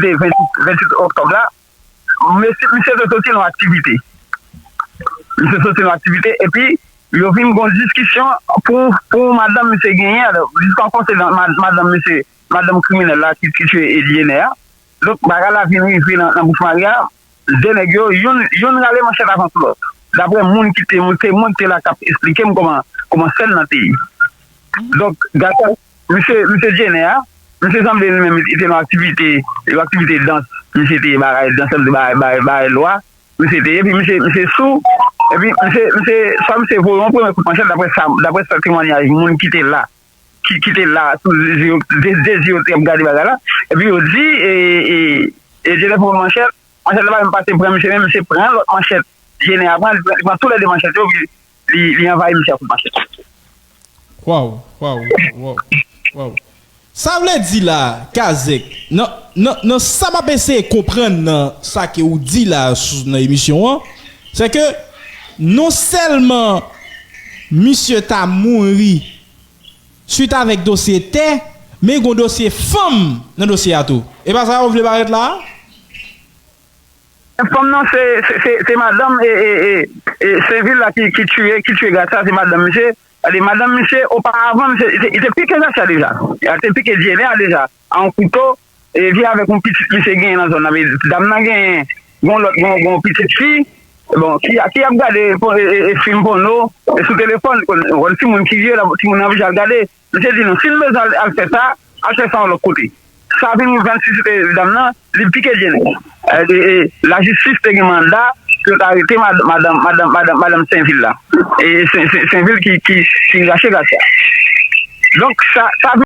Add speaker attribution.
Speaker 1: de 28 oktòb la, misye te soti nan aktivite. Misye te soti nan aktivite epi yo vin gen yon diskisyon pou yon madanm misye genyen a. Jiska konseye nan madanm misye, madanm kriminèl la ki tiye Edyenè a. Donk bagay la vin rive nan bouch mari a. De nèg yo, youn rale manchèt avan tou lòt. Daprè moun ki te, temwen ki te la k ap esplike m kòman sèn nan te ye. Donk, gason. Misye misye jenè a. Misye sanble li menm li te nan aktivite yon aktivite dans misye te bagay dansè misye bay bay bay lwa misye te ye epi misye misye sou epi misye misye swa misye voye yon premye kout manchèt daprè sa daprè sa temwanyaj moun ki te la ki ki te la sou de zye yo de de zye yo te ap gade bagay la epi yo di e e e jenè pran yon manchèt manchèt la pa menm pase pran misye men misye pran lòt manchèt jenè a pran li pran tou lè de manchèt yo epi Li anvayi misye ak yon
Speaker 2: pasyans. Waww waww waww waww sa vle di la kazek nan nan nan sa map eseye konprann nan sa ke ou di la sou nan emisyon an se ke non sèlman misye ta mouri swit avèk dosye tè men gon dosye fanm nan dosye a tou e pa sa yo vle parèt la a? Tèt
Speaker 1: fanm nan se se madanm sevil la ki tiye ki tiye gad sa se madanm misye gade madanm misye oparavan misye li te pike gad sa deja li te pike dyene a deja a yon kouto e li avèk yon pitit misye genyen nan zòn nan me dam nan genyen gon lòt gon gon pitit fi bon ki a ki ap gade e e fim pòno sou telefòn konn timoun ki ye la timoun nan vin al gade. Li te di nou, si n bezwen al fè sa, al fè sa yon lòt kote. Sa vin ouvè antisite dam nan, li pike je nou. E lajistis te gen manda pou yo te arete madanm Senvil la. E Senvil ki rache Gracia. Donk sa vin.